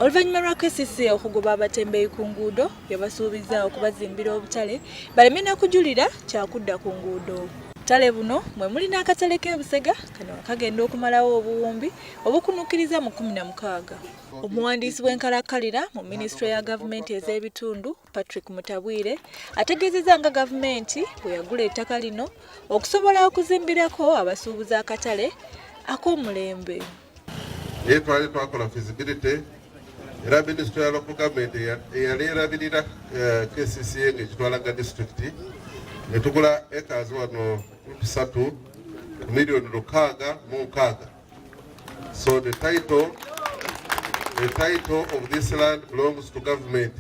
Oluvannyuma lwa KCC okugoba abatembeeyi ku nguudo yabasuubizza okubazimbira obutale baleme na kujulira kyakudda ku nguudo. Obutale buno mwe muli n'akatale k'e Busega kano kagenda okumalawo obuwumbi obukunukkiriza mu kkumi na mukaaga. Omuwandiisi w'enkalakkalira mu minisitule ya gavumenti ez'ebitundu Patrick Mutabwire ategeezezza nga gavumenti bwe yagula ettaka lino okusobola okuzimbirako abasuubuzi akatale ak'omulembe. naye twali twakola feasibility era minisitule ya local government eyali erabirira eh, kcca ng'ekitwalaga disitulikiti ne tugula ekazi wano tusatu ku miliyoni lukaaga mu nkaaga so the title the title of this land belongs to government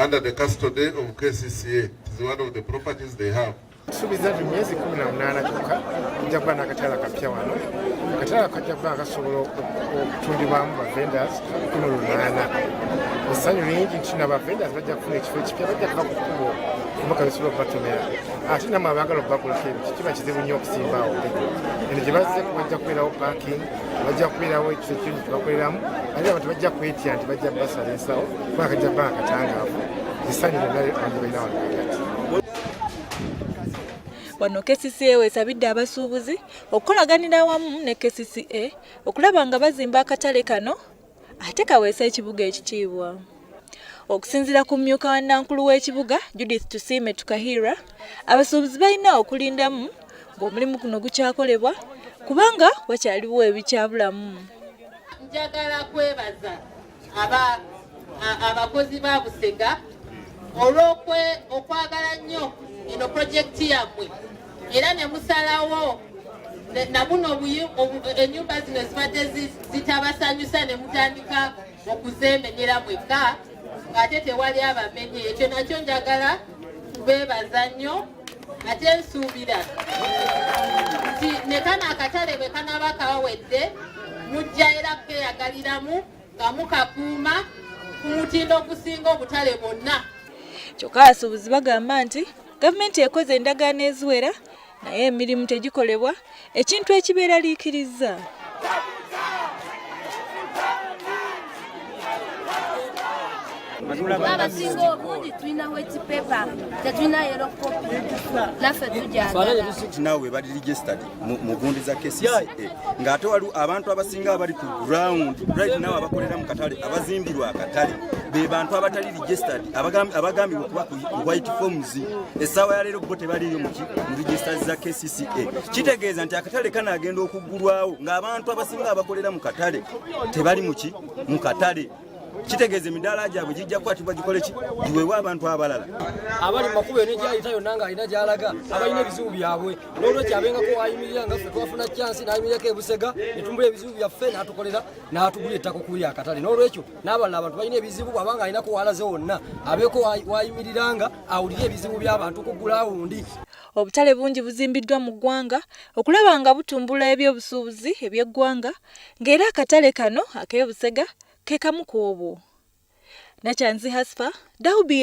under the custody of kcca it is one of the properties they have tusuubiza nti myezi kumi na munaana kyokka tujja kuba n'akatala kapya wano akatala kajja kuba kasobola okutundibwamu bavendas kumi lunaana essanyu lingi nti na bavendas bajja kufuna ekifo ekipya bajja kuba ku kkubo omubaka besobola okubatomera ate namu abaagala okubakolako ebyo kikiba kizibu nnyo okusimbawo eno gye bazze bajja kubeerawo parking bajja kubeerawo ekifo ekyonyi kyebakoleramu ate abantu bajja kwetya nti bajja basala ensawo kuba kajja kuba akatangaavu essanyu lyonna abantu balina wano wano KCCA wesabidde abasuubuzi okukolaganira awamu ne KCCA okulaba nga bazimba akatale kano ate kaweesa ekibuga ekitiibwa okusinzira ku mmyuka wa nankulu w'ekibuga judith tusiime tukahira abasuubuzi balina okulindamu ng'omulimu guno gukyakolebwa kubanga wakyaliwo ebikyabulamu njagala kwebaza abakozi ba busega olwokwe okwagala nnyo eno pulojekiti yammwe era ne musalawo nabuno enyumba zino zibadde zitabasanyusa ne mutandika okuzemenyera mwekka ng'ate tewali abamenye ekyo nakyo njagala kubeebaza nnyo ate nsuubira nti ne kano akatale bwe kanaaba kawawedde mujja era kukeyagaliramu nga mukakuuma ku mutindo ogusinga obutale bwonna kyokka abasuubuzi bagamba nti gavumenti ekoze endagaano eziwera naye emirimu tegikolebwa ekintu ekibeeraliikirizza abasinga obungi tulina weti pepa tetulina yero kopi naffe tujanaawe bali registered mu gundi za kcca ng'ate waliwo abantu abasinga abali ku ground right now abakolera mu katale abazimbirwa akatale be bantu abatali registered abagambibwa okuba white forms essaawa ya leero bo tebaliiyo muki mu registas za kcca kitegeeza nti akatale kana agenda okuggulwawo ng'abantu abasinga abakolera mu katale tebali muki mu katale kitegeeza emidaala gyabwe gijja kukwatibwa gikole ki giweewe abantu abalala abali mumakubo eno egyayita yonna ng'alina gyalaga abalina ebizibu byabwe n'olwekyo abengako wayimirira nga ffe twafuna kyansi n'ayimirirako ebusega ne tumubula ebizibu byaffe n'atukolera n'atugula ettaka okuli akatale n'olwekyo n'abalala abantu balina ebizibu bwabanga alina kuwalaze wonna abeeko wayimiriranga awulire ebizibu by'abantu ku gulawundi obutale bungi buzimbiddwa mu ggwanga okulaba nga butumbula ebyobusuubuzi eby'eggwanga ng'era akatale kano ak'e busega ke kamu ku obwo nakyanzi hasfa dawubi